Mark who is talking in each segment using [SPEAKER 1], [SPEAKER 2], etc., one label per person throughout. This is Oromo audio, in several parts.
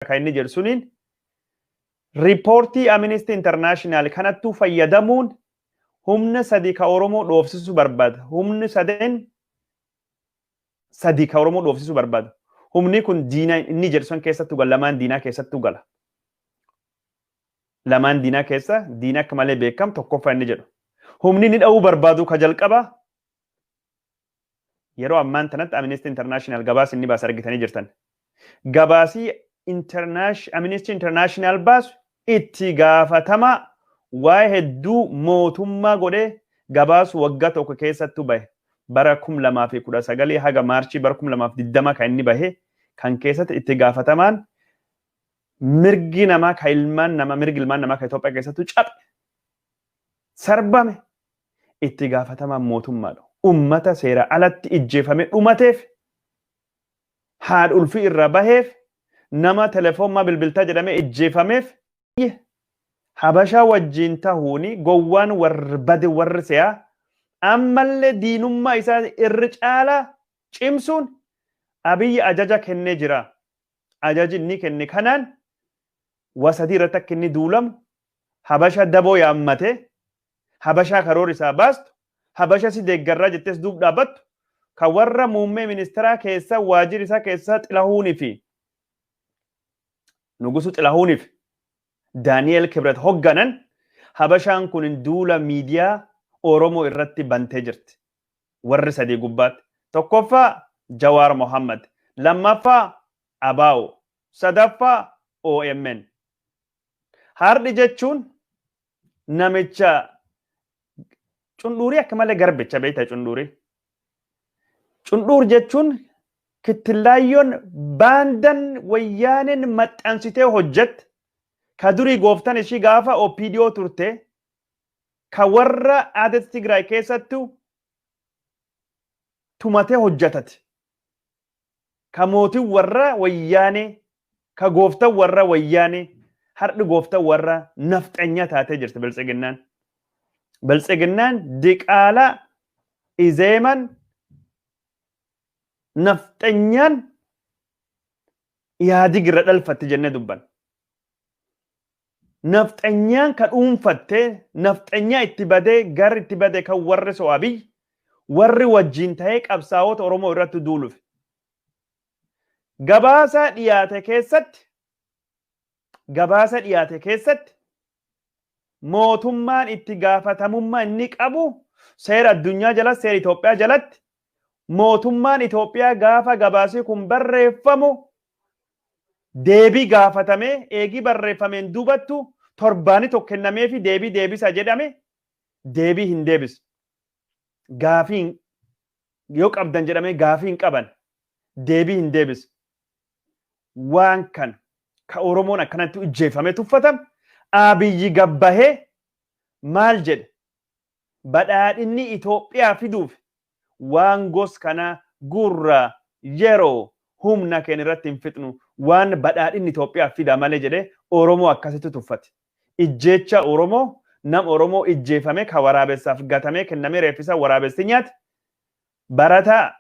[SPEAKER 1] kan inni jedhu suniin riippoortii Amnesty International kanattuu fayyadamuun humna sadii ka Oromoo dhoofsisu barbaada. Humni sadeen sadii ka Oromoo dhoofsisu barbaada. Humni kun diina inni jedhu san keessattuu gala lamaan diinaa keessattuu gala. Lamaan diinaa keessa diina akka malee beekamu tokkoffaa inni jedhu. Humni inni dha'uu barbaadu ka jalqabaa Yeroo ammaan tanatti Amnesty International gabaasa inni baase argitanii jirtan. Gabaasii Internash- Amnesty International baasu itti gaafatamaa waa'ee hedduu mootummaa godhee gabaasu waggaa tokko keessattu bahe. Bara 2019 haga Maarchii bara 2020 kan inni bahe kan keessatti itti gaafatamaan mirgi namaa kan ilmaan namaa mirgi ilmaan namaa kan Itoophiyaa keessattu caphe sarbame itti gaafatamaan mootummaadha. Ummata seera alatti ijjeefame dhumateef, haadha ulfii irraa baheef, nama telefoon maa bilbiltaa jedhamee ijjeefameef, habashaa wajjiin tahuun gowwaan warr bade warr se'aa ammallee diinummaa isaa irr caalaa cimsuun Abiyyi ajaja kennee jira. Ajaji inni kenne kanaan waa sadii irratti akka inni duulamu Habasha daboo yaammatee, Habashaa karoorri isaa baastu, Habasha si deeggarraa jettees duub dhaabattu, ka warra muummee ministeeraa keessa waajjiri isaa keessa Xilahuun fi Nugusu Xilahuun fi Daani'eel Kibret hogganan, Habashaan kun duula miidiyaa Oromoo irratti bantee jirti. Warri sadii gubbaatti. Tokkoffaa Jawaar Mohammad, lammaffaa ABO, sadaffaa omn. Haardhi jechuun namicha cundhuurii akka malee garbicha beektaa cundhuurii. Cundhuur jechuun kittillaayyoon baandan wayyaaneen maxxansitee hojjette ka durii gooftan ishii gaafa OPDO turte ka warra aadatti Tigraay keessattu tumatee hojjetati. ka mootin warra wayyaanee ka gooftan warra wayyaanee hardhi gooftan warra nafxanyaa taatee jirti biltsiginnaan. Biltsiginnaan diqaalaa izeeman nafxanyaan yaadig irra dhalfatti jennee dubban. nafxanyaan ka dhuunfatte nafxanyaa itti badee garri itti bade kan warri so Abiy warri wajjin ta'ee qabsaa'ota Oromoo irratti duulufi. Gabaasaa dhiyaate keessatti gabaasa dhiyaate keessatti mootummaan itti gaafatamummaa inni qabu seera addunyaa jalatti seera Itoophiyaa jalatti mootummaan Itoophiyaa gaafa gabaasii kun barreeffamu deebii gaafatamee eegii barreeffameen duubattu torbaani tokko kennameefi deebii deebisa jedhame deebii hin deebisne. Gaafiin yoo qabdan jedhamee gaafii hin qaban deebii hin deebisne. Waan kana ka Oromoon akkanatti ijjeeffamee tuffatan Abiyyi gabbahee maal jedhe badhaadhinni Itoophiyaa fiduuf waan gos kanaa gurra, yeroo, humna keenya irratti hin fixnu. Waan badhaadhinni Itoophiyaaf fida malee jedhee Oromoo akkasitti tuffate. Ijjeechaa Oromoo nam Oromoo ijjeefame ka waraabessaaf gatamee kennamee reeffisaa waraabessi nyaate, barataa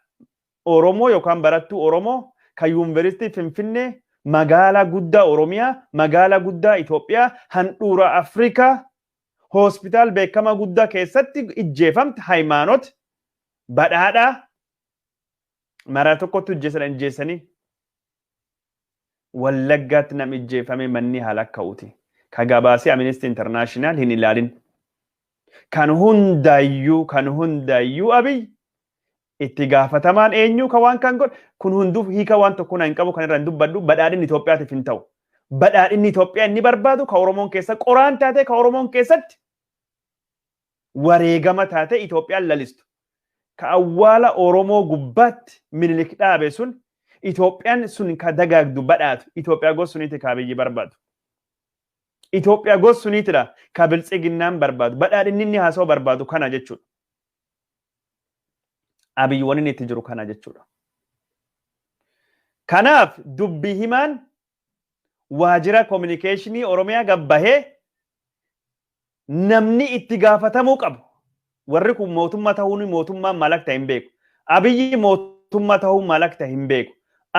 [SPEAKER 1] Oromoo yookaan barattuu Oromoo ka Yuunveristii Finfinnee magaalaa guddaa Oromiyaa, magaalaa guddaa Itoophiyaa, handhuura Afrikaa hospitaal beekamaa guddaa keessatti ijjeefamte Hayimaanot badhaadhaa maraa tokkotti ijjeessan ijjeessanii wallaggaatti nam ijjeeffamee manni haala akka'uuti. Ka gabaasee Amnesty International hin ilaalin. Kan hundaayyuu kan hundaayyuu abiy Itti gaafatamaan eenyuu ka waan kan godhe kun hunduu hiika waan tokko na hin qabu kan irra hin dubbadhu badhaadhinni Itoophiyaatiif hin ta'u. Badhaadhinni Itoophiyaa inni barbaadu ka Oromoon keessa qoraan taatee ka Oromoon keessatti wareegama taatee Itoophiyaan lalistu. Ka awwaala Oromoo gubbaatti Minilik dhaabe sun Itoophiyaan sun ka dagaagdu badhaatu Itoophiyaa gosa suniiti ka Abiyyi barbaadu. Itoophiyaa gosa suniitidha ka biltsiginnaan barbaadu badhaadhinni inni haasa'u barbaadu kana jechuudha. Abiy wanni itti jiru kana jechuudha. Kanaaf dubbi himaan waajjira kominikeeshinii Oromiyaa gabbahee namni itti gaafatamuu qabu. Warri kun mootummaa ta'uun mootummaan maal akka ta'e hin beeku. Abiyyi mootummaa ta'uun maal akka ta'e hin beeku.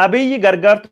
[SPEAKER 1] Abiyyi gargaartuu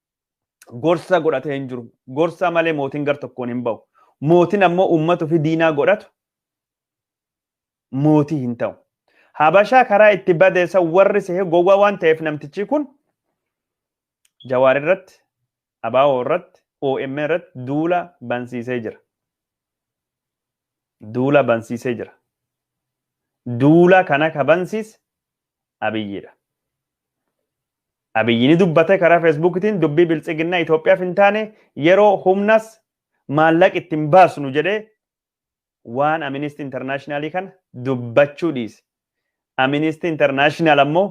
[SPEAKER 1] gorsa godhatee hin jiru. Gorsa malee mootiin gar tokkoon hin ba'u. Mootiin ammoo uummata ofii diinaa godhatu mootii hin ta'u. Habashaa karaa itti badeessa warri sehe gowwaa waan ta'eef namtichi kun jawaar irratti, abaawoo irratti, OM irratti duula bansiisee jira. Duula bansiisee jira. Duula kana ka bansiise abiyyiidha. Abiyyi ni dubbate karaa Feesbuukitiin dubbii Biltsiginnaa Itoophiyaaf hin taane yeroo humnas maallaq itti hin baasnu jedhee waan Aministii Intarnaashinaalii kana dubbachuu dhiise. Aministii Intarnaashinaal ammoo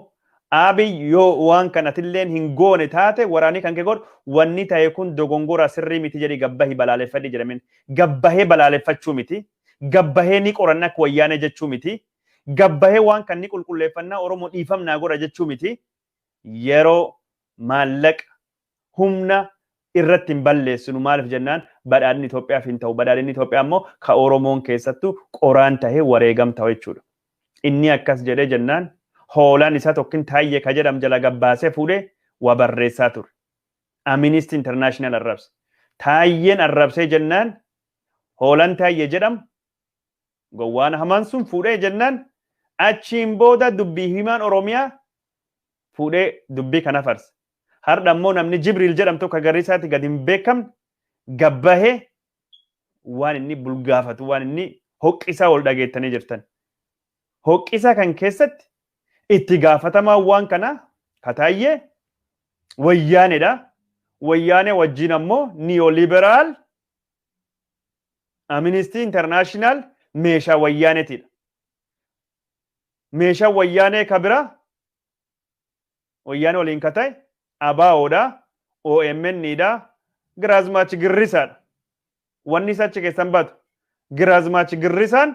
[SPEAKER 1] Abiy yoo waan kan atilleen hin goone taate waraanii kan kee godhu wanni ta'e kun dogongora sirrii miti jedhi gabbahi balaaleffadhi jedhameen gabbahee balaaleffachuu miti gabbahee ni qoranna akka wayyaanee jechuu miti Gabbahee waan kan ni qulqulleeffannaa Oromoo dhiifam naa godha jechuu miti. Yeroo, maallaqa, humna irratti hin balleessinu maaliif jennaan badhaadhinni Itoophiyaaf hin ta'u. Badhaadhinni Itoophiyaa immoo ka Oromoon keessattuu qoraan tahee wareegam ta'u jechuudha. Inni akkas jedhee jennaan hoolaan isaa tokkin taayyee ka jedham jala gabbaasee fuudhee waa barreessaa ture. Aministi Internaashinaal arrabse. Taayyeen arrabsee jennaan hoolaan taayyee jedham Gowwaan hamaan sun fuudhee jennaan achiin booda dubbii himaan Oromiyaa fuudhee dubbii kana farse. Hardha immoo namni Jibriil jedhamu tokko garri isaatti gad hin beekamne gad bahee waan inni bulgaafatu waan inni hoqqisaa ol dhageettanii jirtan. Hoqqisaa kan keessatti itti gaafatamaan waan kanaa kataayyee wayyaaneedha. Wayyaanee wajjin ammoo niyooliberaal Aministii Intarnaashinaal meeshaa Wayyaaneetiidha. Meeshaan Wayyaanee ka biraa Wayyaanee waliin ka ta'e ABOdha, OMN dha, Giraazmaach Girrisaadha. Wanni isa achi keessan baatu Giraazmaach Girrisaan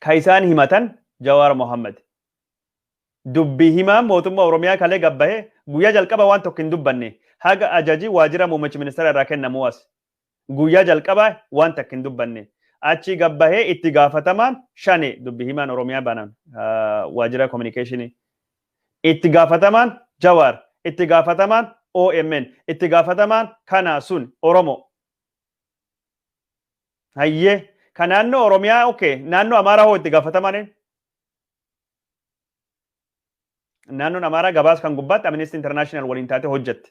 [SPEAKER 1] ka isaan himatan Jawaar Mohammed. Dubbi himaan mootummaa Oromiyaa kalee gad bahe guyyaa jalqaba waan tokko hin dubbanne haga ajaji waajjira muummichi ministeera irraa kennamuu as. Guyyaa jalqaba waan takka hin dubbanne. Achii gad bahee itti gaafatamaan shane dubbi himaan Oromiyaa banan waajjira kominikeeshinii. Itti gaafatamaan Jawaar, itti gaafatamaan OMN, itti gaafatamaan kanaa sun Oromoo. Hayyee ka naannoo Oromiyaa okay naannoo Amaaraa hoo itti gaafatamaan eenyu? Naannoon Amaaraa gabaasa kan gubbaatti Amnesty International waliin taatee hojjette.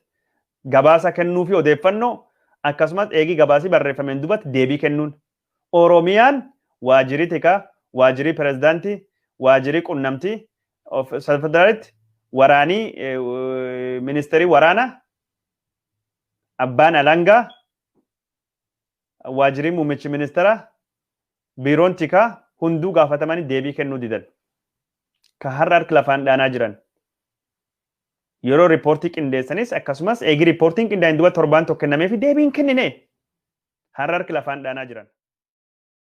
[SPEAKER 1] Gabaasa kennuu fi odeeffannoo akkasumas eegii gabaasii barreeffameen duubatti deebii kennuun. Oromiyaan waajjirii tikaa, waajjirii pirezidaantii, waajjirii qunnamtii of federaalitti waraanii eh, w- ministeerii waraanaa abbaan alangaa Waajjiriin Muummichi Ministeera Biiroon Tikaa hunduu gaafatamanii deebii kennuu didan. Ka har'a harki lafaan dhaanaa jiran. Yeroo riippoortii qindeessanis akkasumas eegi riippoortiin qindaa'in duba torbaan tokko kennamee fi deebiin kennine har'a harki lafaan dhaanaa jiran.